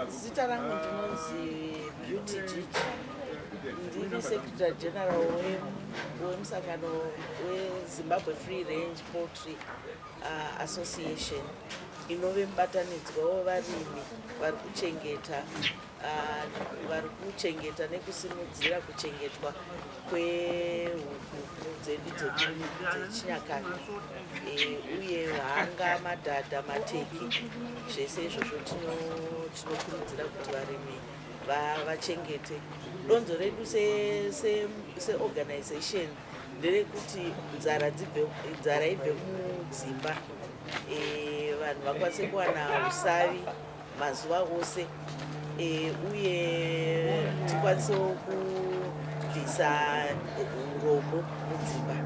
Zita rangu ndinonzi Beauty Jiji. Ndiri Secretary General wemusangano weZimbabwe Free Range Poultry uh, Association inove mubatanidzwa wevarimi vari kuchengeta uh, vari kuchengeta nekusimudzira kuchengetwa kwehuku dzedu dzechinyakare eh, uye hanga madhadha mateki zvese izvozvo tinokurudzira kuti varimi vachengete donzo redu seorganization nderekuti nzara ibve mudzimba eh, vanhu vakwanise kuwana usavi mazuva ose e, uye tikwanisewo kubvisa urombo mudzimba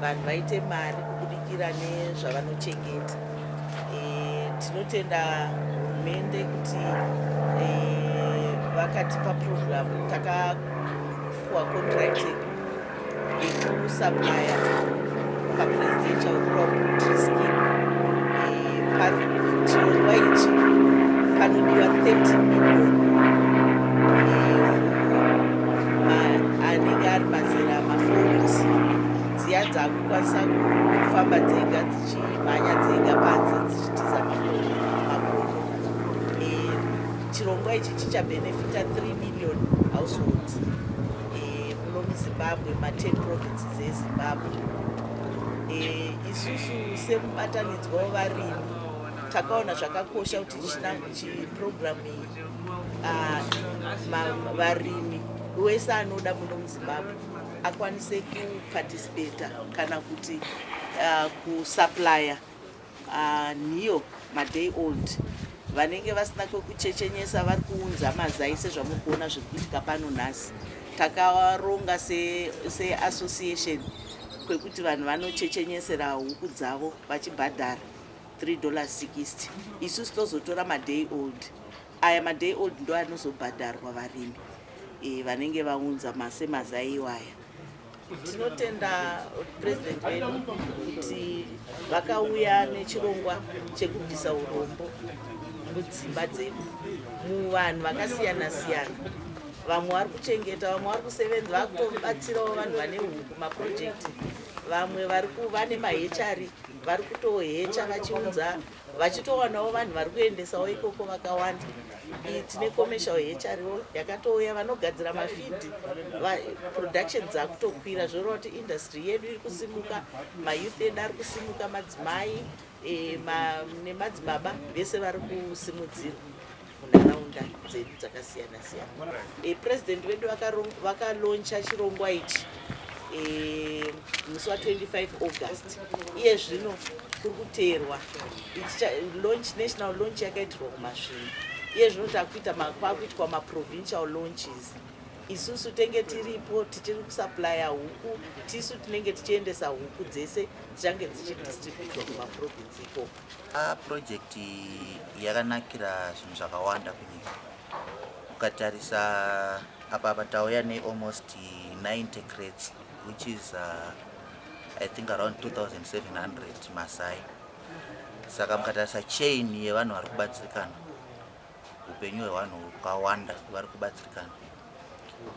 vanhu vaite mari kubudikira nezvavanochengeta e, tinotenda hurumende kuti e, vakatipa purogiramu takapuwa kontrakt yekusapaya papresidential crop scheme pachirongwa ichi panodiwa 30 million anenge ari mazera maforis dziya dzakukwanisa kufamba dzega dzichimhanya dzega panze dzichitiza makono chirongwa ichi chichabenefita 3 million households lomuzimbabwe ma10 provinces ezimbabwe e, isusu semubatanidzwa wevarimi takaona zvakakosha kuti chiprogramu iyi ah, varimi wese anoda muno muzimbabwe akwanise kuparticipata kana kuti ah, kusuplya Haa nhiyo ma day old vanenge vasina kwekuchechenyesa vari kuunza mazai sezvamuri kuona zviri kuitika pano nhasi takaronga seassociation se kwekuti vanhu vanochechenyesera huku dzavo vachibhadhara 3 dollars 60 isusu tozotora maday old aya maday old ndo anozobhadharwa varimi e, vanenge vaunza masemazai iwaya Tinotenda president vedu kuti vakauya nechirongwa chekubvisa urombo mudzimba dzedu muvanhu vakasiyana siyana vamwe vari kuchengeta vamwe vari kusevenza vari kutobatsirawo vanhu vane huku maprojekti vamwe vari kuva nemahechari vari kutohecha vachiunza vachitowanawo vanhu vari kuendesawo ikoko vakawanda tine commercial hro yakatouya vanogadzira mafidi production dzakutokwira zvoreva kuti industry yedu iri kusimuka mayouth edu ari kusimuka madzimai e, nemadzibaba vese vari kusimudzirwa munharaunda dzedu dzakasiyana siyana e, president vedu vakaloncha chirongwa ichi e, musi wa 25 august iye zvino kuri kuteerwa national launch yakaitirwa kumasvinu iye zvino takuita kwakuitwa maprovincial launches isusu tenge tiripo tichiri kusuplya huku tisu tinenge tichiendesa huku dzese dzichange dzichidistributwa kumaprovince ikoko Ah, project yakanakira zvinhu zvakawanda kunyika ukatarisa apa apa tauya nealmost 90 crates which is uh, i think around 2700 masai saka mukatarisa chain yevanhu vari kubatsirikana upenyu hwevanhu hukawanda vari kubatsirikana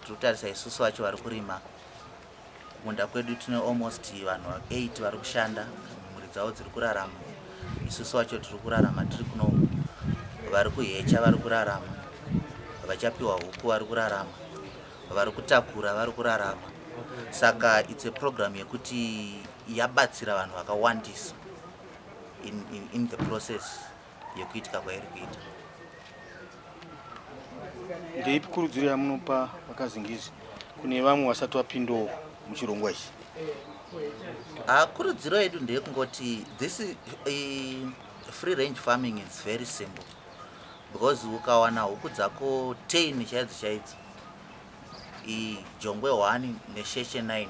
tiri kutarisa isusu vacho vari kurima Kumunda kwedu tine almost vanhu 8 vari kushanda, mhuri dzavo dziri kurarama, isusu wacho tiri kurarama tiri kuno, vari kuhecha vari kurarama, vachapiwa huku vari kurarama, vari kutakura vari kurarama. Saka it's a program yekuti yabatsira vanhu vakawandisa in, in, in the process yekuitika kwairi kuita. Ndeipi kurudziro yamunopa vakazingizi kune vamwe vasati vapindawo muchirongwa ichi? Ah, kurudziro yedu ndeyekungoti this uh, free range farming is very simple because ukawana huku dzako tain chaidzo chaidzo ijongwe 1 nesheshe 9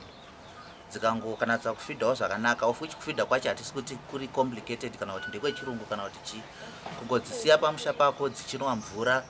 dzikangokanatsa kufidhawo zvakanaka of which kufidha kwacho hatisi kuti kuri complicated kana kuti ndekwechirungu kana kuti chii kungodzisiya pamusha pako dzichinwa mvura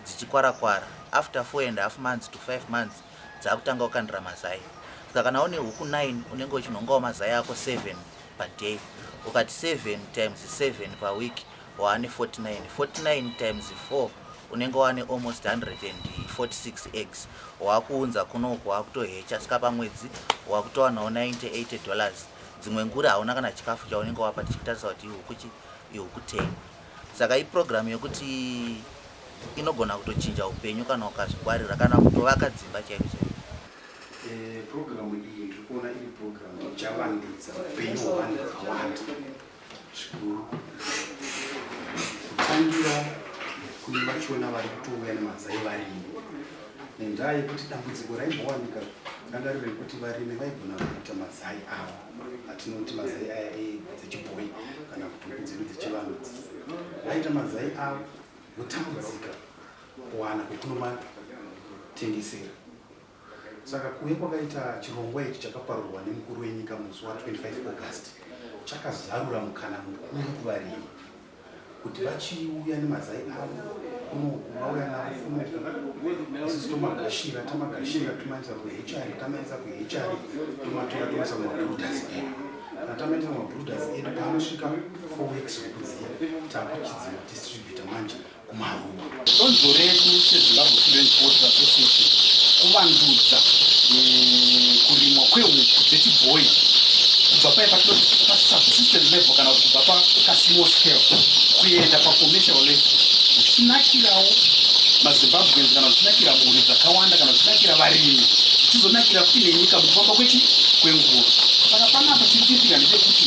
dzichikwarakwara after four and half months to five months dzakutanga kukandira mazai saka kana une huku nine unenge uchinhongawo mazai ako seven paday ukati seven times seven paweek waane 49 49 times 4 unenge waane almost 146 eggs waakuunza kunoku waakutohecha saka pamwedzi waakutowanawo 98 dollars dzimwe nguri hauna kana chikafu chaunenge wapa tichitarisa kuti ihukuchi ihuku 10 saka iprogramu yekuti inogona kutochinja upenyu kana ukazvingwarira kana kutovaka dzimba chaiko chaiko eh, programu iyi ndiri kuona iri programu ichavandudza upenyu hwevanhu vakawanda zvikuru kutangira kune vachona vari kutouya nemazai varimi nenzaya yekuti dambudziko raimbowanika ranga riri rekuti varimi vaigona kuita mazai avo atinoti mazai aya edzechibhoyi kana kuti huku dzedu dzechivanhu vaita mazai avo votambudzika kuwana kwekunomatengesera Saka kuuya kwakaita chirongwa ichi chakaparurwa nemukuru wenyika musi wa 25 August chakazarura mukana mukuru kuvarimi kuti vachiuya nemazai avo kunoku vauya navo kunoku isusu tomagashira tamagashira tomaendesa kuhechari tamaendesa kuhechari tomatora tomaisa mumabrooders edu kana tamaendesa mumabrooders edu paanosvika four weeks wekuziya takuchidzima distributor manje kumaruwa. Donzvo redu seZimbabwe Food and Poultry Association kuvandudza eh, kurimwa kwehuku dzechibhoyi kubva paye pasubsistent level kana kuti kubva pakasimo scale kuenda pacommercial level zvichinakirawo mazimbabweans kana zvichinakira mhuri dzakawanda kana zvichinakira varimi zvichizonakira futi nenyika mukufamba kwechi kwenguva saka panapa chiri kuitika ndechekuti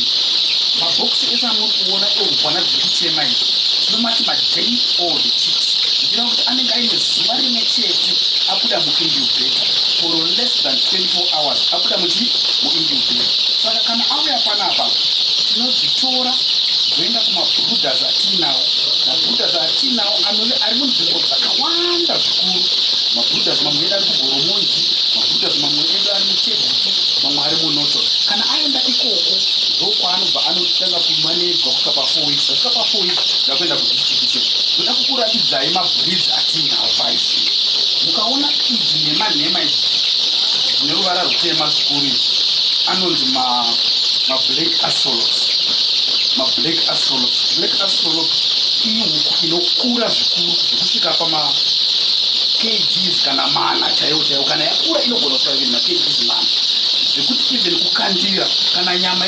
mabhokisi ese amuri kuona eupwana dziri Tema izvi tinomati maday old chicks ndira kuti anenge aine zuva rimwe chete abuda muincubator for less than 24 hours abuda muchii muincubator saka kana auya panapa tinodzitora dzoenda kumabrudas atiinawo mabrudas atiinawo anove ari munzvimbo dzakawanda zvikuru mabrudas mamwe edu ari kugoromonzi mabrudas mamwe edu ari muchegutu mamwe ari munoto kana aenda ikoko ndokwaanobva anotanga kumanejwa pa 4 weeks tasvika pa 4 weeks ndakuenda kudistribution ndoda kukuratidzai mabridge atiinawo paizvi mukaona idzi nhema nhema idzi dzine ruvara rutema zvikuru izvi anonzi mablack asolox mablack asolox black asolox ihuku inokura zvikuru zvekusvika pama kgs kana mana chaiwo chaiwo kana yakura inogona kusvika even makgs mana zvekuti even kukandira kana nyama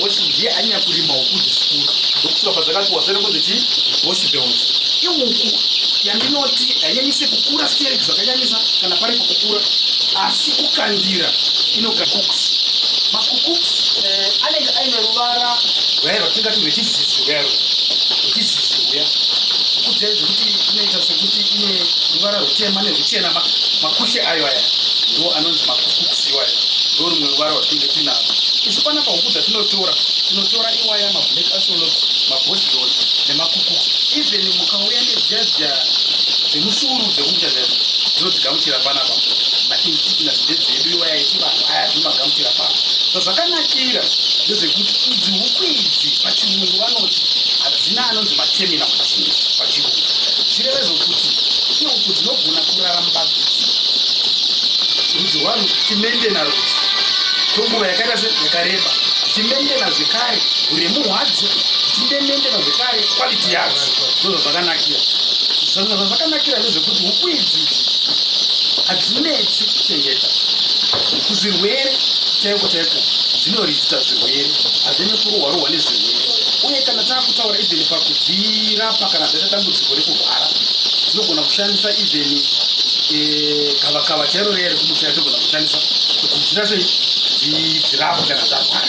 Hosi ndiye anyanya kurima huku dzechikuru ndokusvika padzakati wasere kunzi chii hosi behosi ihuku yandinoti hainyanyise kukura stereki zvakanyanyisa kana pari kukukura asi kukandira inokakuks makukuks eh, anenge aine ruvara rwaero tingati rwechizizi rwaero rwechizizi uya huku dzayo dzekuti inoita sekuti ine ruvara rutema nerwuchena makushe ayo aya ndiwo anonzi makukuks Iwaya ndo rumwe ruvara rwatinenge tinaro isu panapa huku dzatinotora tinotora iwaya mablack asolots mabosdos nemakuku even mukauya nedziya dziya dzemusuru dzekuita zvaio dzinodzigamuchira panapa maindigenous ndedzedu iwaya iti vanhu aya dzinomagamutira pano so zvakanakira ndezvekuti idzi huku idzi pachirungu vanoti hadzina anonzi materminal disease pachirungu zvichireva zvokuti ihuku dzinogona kuraramba dzichi Rudzo hwaro tichimentena rudzo kwenguva yakaita se yakareba tichimentena zvekare uremu hwadzo tichimentena zvekare quality yadzo ndozvo zvakanakira zvimwe zvazvakanakira ndezvekuti huku idzi hadzinetsi kuchengeta kuzvirwere chaiko chaiko dzinorizita zvirwere hazvine kurohwa rohwa nezvirwere uye kana taakutaura even pakudzirapa kana zvaita dambudziko rekurwara dzinogona kushandisa even eh, gavakava chairo riya rekumusha yatogona kushandisa kuti zvinase zvirapwe kana zvarwara